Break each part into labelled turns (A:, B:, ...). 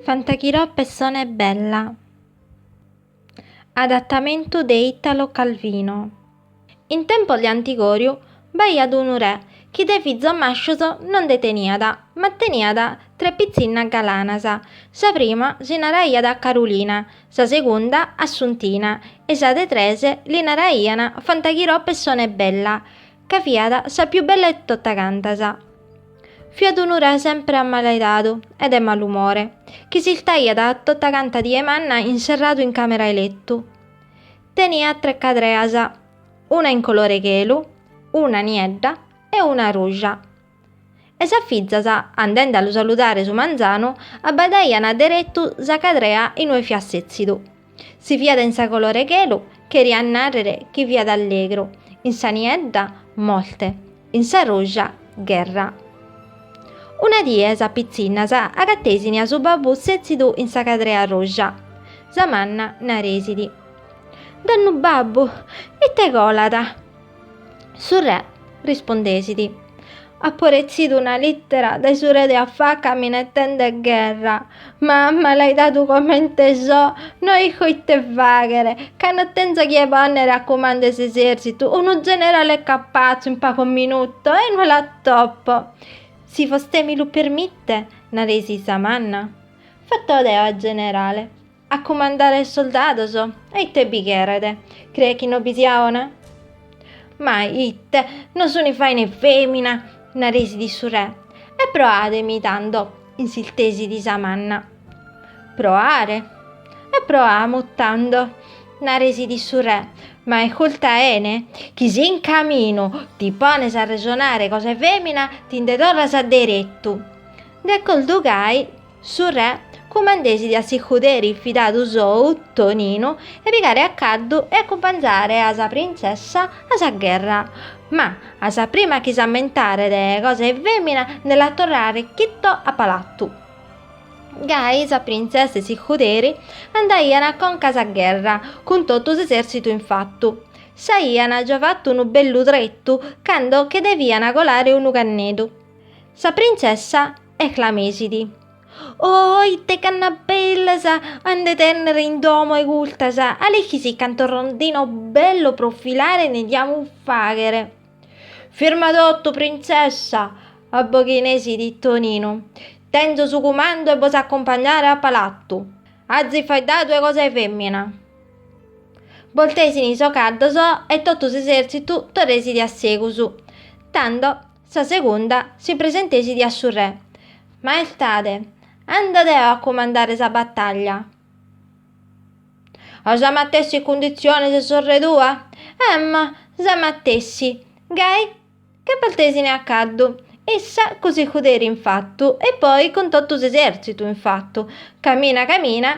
A: Fantaghirò pessone bella. Adattamentu de Italo Calvino. In tempos de antigoriu b'aiat unu re chi de fizos mascios non nde teniat, ma teniat tres pitzinnas galanas, sa prima si naraiat Carulina, sa segunda Assuntina e sa de tres li naraian Fantaghirò pessone bella. ca fiat sa più bella 'e tottacantas. Fiat unu re sempre ammalaidadu e de malumore, chi s'istaiat tottacanta die manna inserradu in camera 'e lettu. Teniat tre cadreas, una in colore chelu, una niedda e una ruja. E sas fizas, andende a lu saludare su manzanu, abbadaian deretu sa cadrea in ue fiat setzidu. Si fiat in sa colore chelu, cheriat nàrrere chi fiat allegru, in sa niedda, morte, in sa ruja, gherra. Una die sas pitzinnas agatesini a su babbu setzidu in sa cadrea ruja. Sa manna naresidi. Donnu babbu, ite colat? Su re rispondesit, Apo retzidu una lìtera dae su re de afaca minetende gherra, ma malaidadu comente so, no isco ite fàghere, ca no tenzo a chie pònnere a cumandu 'e s'esèrtzitu, unu generale capatzu in pagos minutos e no l'atopo. Si vostè mi lu permite, naresit sa manna. Fatto deo a generale. A cumandare sos soldados? E ite bi cheret? Creet chi no bi sia 'ona? Ma ite, no suni faina 'e femina? naresit su re. E proademi tando, insistesit sa manna. Proare? E proamus tando, naresit su re, ma isculta 'ene chi si in caminu ti pones a resonare cosa 'e femina ti nde torras derettu. De acordu gai Su re cumandesidi a s'iscuderi fidadu sou, Toninu, 'e pigare a caddu e acumpanzare a sa printzessa a sa gherra, ma a sa prima chi s'ammentaret de cosa 'e femina nde la torrare chitto a palatu. Gai sa printzessa e s'iscuderi andaian conca a sa gherra, cun totu s'esertzitu in fattu. S'aian già fattu unu bellu tretu cando che devian colare unu cannedu. Sa printzessa. esclamesidi. Oh, ite canna bellas a nde tennere in domo 'e custas, a l'ischis cantos rondinos bellos pro filare nde diamus faghere. Firma totu, printzessa! abboghinesidi Toninu. Tenzo su cumandu 'e bos accompagnare a palatu. Azis faeddadu 'e cosa 'e femmina. Boltesini sos caddos e totu s'esertzitu torresidi a segus. Tando. Sa segunda si presentesidi a su re, Maestade, anda deo a cumandare sa battaglia. A sa matessi cunditzione 'e sorre tua? Emmo, sa matessi. Gai, che partesine a caddu, issa cun s'iscuderi in fattu e poi cun totu s'eserzitu in fattu, camina camina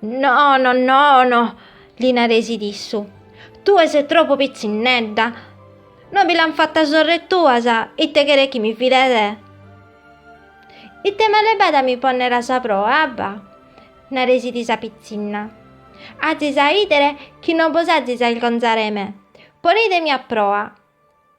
A: Nono, nono, li naresit issu, tue ses tropu pitzinnedda, no bi l'ant fata sorre tuas, e ite cheres chi mi fide? Ite male b'at a mi ponnere a sa proa, abba? naresit sa pitzinna. Azis a idere chi no bos azis a ilgonzare 'e me, ponidemi a proa.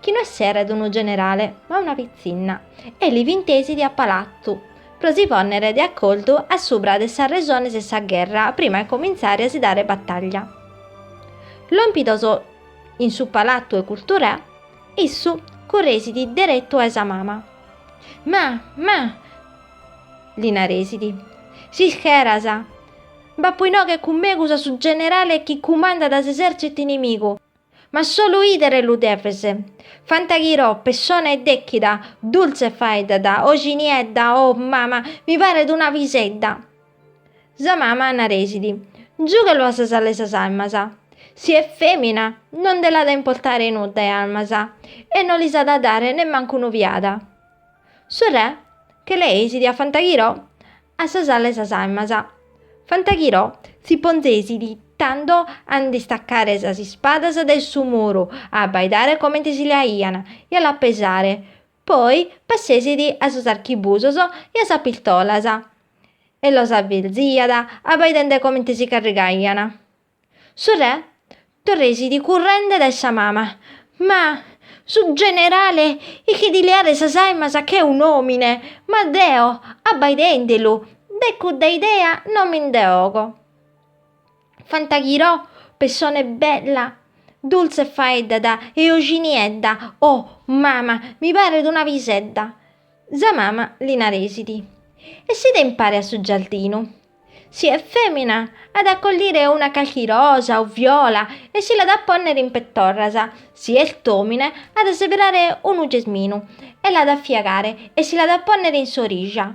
A: chi no esseret unu generale, ma una pitzinna, e l'invitesidi a palatzu, pro si pònnere de acordu a subra de sas resones 'e sa gherra prima 'e comintzare a si dare bataglia. Lòmpidos in su palatzu 'e Curturè, issu curresit deretu a-e sa mama. Ma, ma! li naresit, s'ischeras, b'apo inoghe cun megus a su generale chi cumandat s'esèrtzitu inimigu, Ma solu idere lu deves. Fantaghirò, pessone dechida, dultze faeddada, oji niedda, oh, mama, mi paret una pisedda! Sa mama naresit, Giughelu a sa sala 'e sas aimas. Si est femina, no nde l'at a importare nudda 'e almas e no lis at a dare nemmancu un'ojada. Su re che leesit a Fantaghirò a sa sala 'e sas aimas, Fantaghirò si ponzesit tando a nd'istaccare sas ispadas dae su muru, a abbaidare comente si leaian e a las pesare, poi passesit a sos archibusos e a sas pistolas e los abelziat abbaidende comente si carrigaian. Su re torresit currende dae sa mama, Ma, su generale ischit leare sas aimas che un'omine, ma deo, abbaidendelu, de cudda idea non mi nde 'ogo. Fantaghirò pessone bella, dultze faeddada e oji niedda, O, mama, mi paret una pisedda! Sa mama li naresit, Essìde impare a su giardinu? Si est fèmina, at a collire una calchi rosa o viola e si l'at a pònnere in petorras, si est òmine, at a seberare unu gesminu e l'at a fiagare e si l'at a pònnere in s'orija.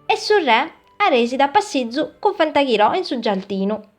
A: E su re aresit a passizu cun Fantaghirò in su giardinu.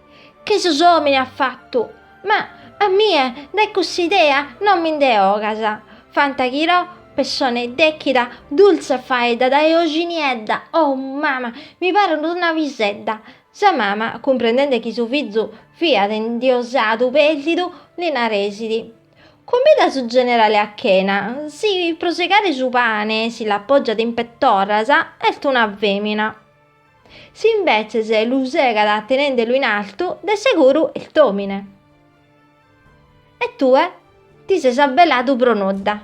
A: Che sos omines at fattu! Ma a mie dae cussa idea non mi nde 'ogas! Fantaghirò, pessone dèchida, dultze faeddada e ojiniedda, oh mama, mi paret una pisedda! Sa mama, cumprendende chi su fizu fiat indiosadu pèrdidu, li naresit, Cumbida su generale a chena, si pro segare su pane si l'appògiat in petorras, est una fèmina. Si imbetzes lu segat tenendelu in artu, de seguru est òmine. E tue ti ses abbeladu pro nudda.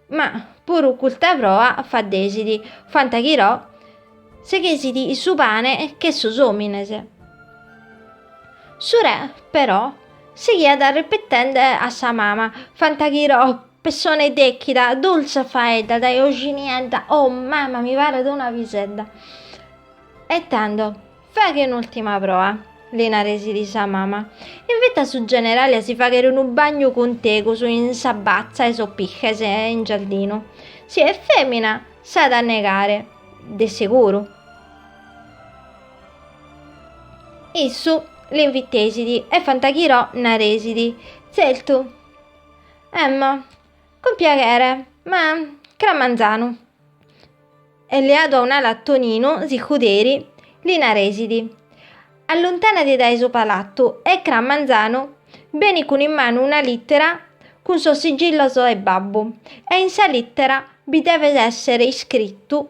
A: Ma puru custa proa faddesit, Fantaghirò seghesit su pane che sos òmines. Su re, però, sighiat repetende a sa mama, Fantaghirò Pessone dechida, dultze faeddada e ojiniedda, oh mama mi paret una pisedda. E tando, faghe un'ultima proa, li naresit sa mama, invita su generale a si faghere unu bagnu cun tegus in sa batza 'e sos piches in giardinu, si est femina s'at a negare de seguru. Issu l'invitesit e Fantaghirò naresit, Zertu, Emmo, Cun piaghere, ma cra manzanu. E leadu a un'ala a Toninu s'icuderi, li naresit, Alluntanadi dae su palatu e cra manzanu beni cun in manu una littera cun sos sigillos 'e babbu e in sa littera bi devet essere iscrittu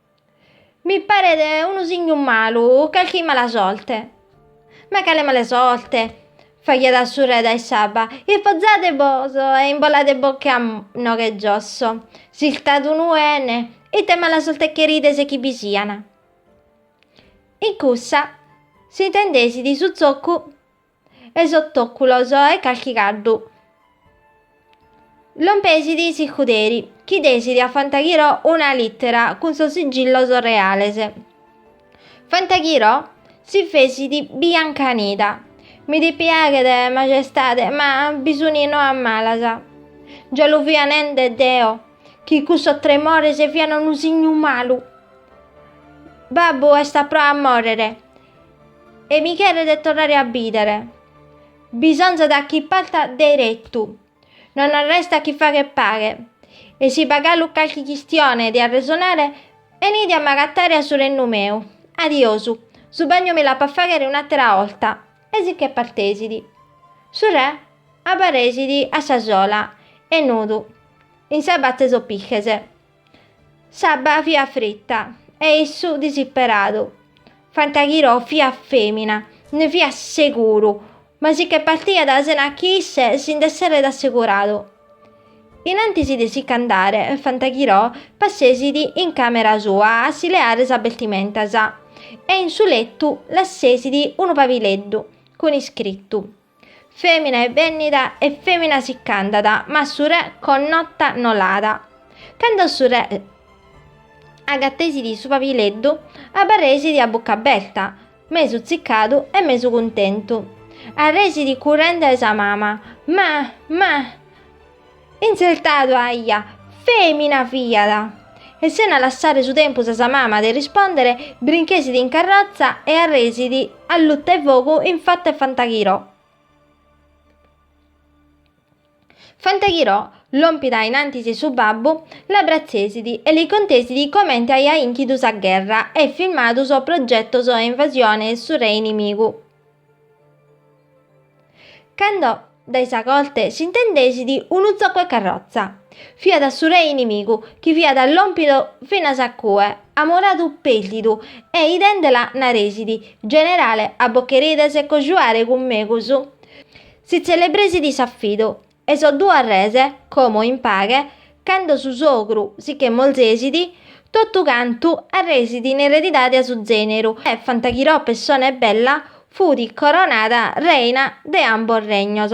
A: Mi paret unu signu malu, calchi mala sorte. Ma cale mala sorte? faghiat su re dae s'abba. Ispozadebos e imboladebocche a noche giosso. S'istat unu 'ene, ite mala sorte cherides chi bi sian? In cussa s'intendesit su zoccu. 'e sos tòculos 'e calchi caddu. Lompesit s'icuderi, chi desit a Fantaghirò una lìtera cun sos sigillos reales. Fantaghirò si fesit biancanida. Mi dipiaghet, Magestade, ma bi sun noas malas. Già lu fia nende deo chi cussos tremores fian unu signu malu. Babbu est a pro a mòrrere. e mi cheret torrare a bidere. Bisonzat chi parta derettu, non arrestat chi fagher paghe, e si b'at galu calchi chistione de arresonare, benide a m'agatare a su rennu meu. Adiosu, su bagnu mi l'apo a faghere un'attera 'olta. E si che partesit. Su re abbarresit a sa sola e nudu, in sa batza 'e sos piches. S'abba fiat fritta e issu disisperadu. Fantaghirò fiat femina, ne fiat seguru, ma si che partiat sena chi isse si nd'esseret asseguradu. In antis de si ch'andare, Fantaghirò passesit in camera sua a si leare sas bestimentas e in su lettu lassesit unu pabileddu cun iscrittu. Femina est bennida e femina si ch'andat, ma su re connota no l'at. Cando su re agatesit su pabileddu, abarresit a bucca aberta, mesu tziccadu e mesu cuntentu. Arresit currende a sa mama, Ma! Ma! Intzertadu aia, fèmina fiat! E sena lassare su tempus a sa mama de rispòndere, brinchesit in carrotza e arresit a luta 'e fogu in fatu 'e Fantaghirò. Fantaghirò, lòmpida in antis 'e su babbu, l'abbratzesit e li contesit comente aiat inchidu sa gherra e filmadu sos progetos 'e invasione 'e su re inimigu. Cando dae sa corte s'intendesit unu tzocu 'e carrotza. Fiat su re inimigu chi fiat lòmpidu finas a cue, amoradu pérdidu e idèndela naresit, Generale, a bos cherides cojuare cun megus si tzelebresit s'afidu E sos duos res, como in paghe, cando su sogru si che molzesit, totu cantu arresit in eredidade a su zeneru, e Fantaghirò pessone bella fut coronada reina de ambos regnos.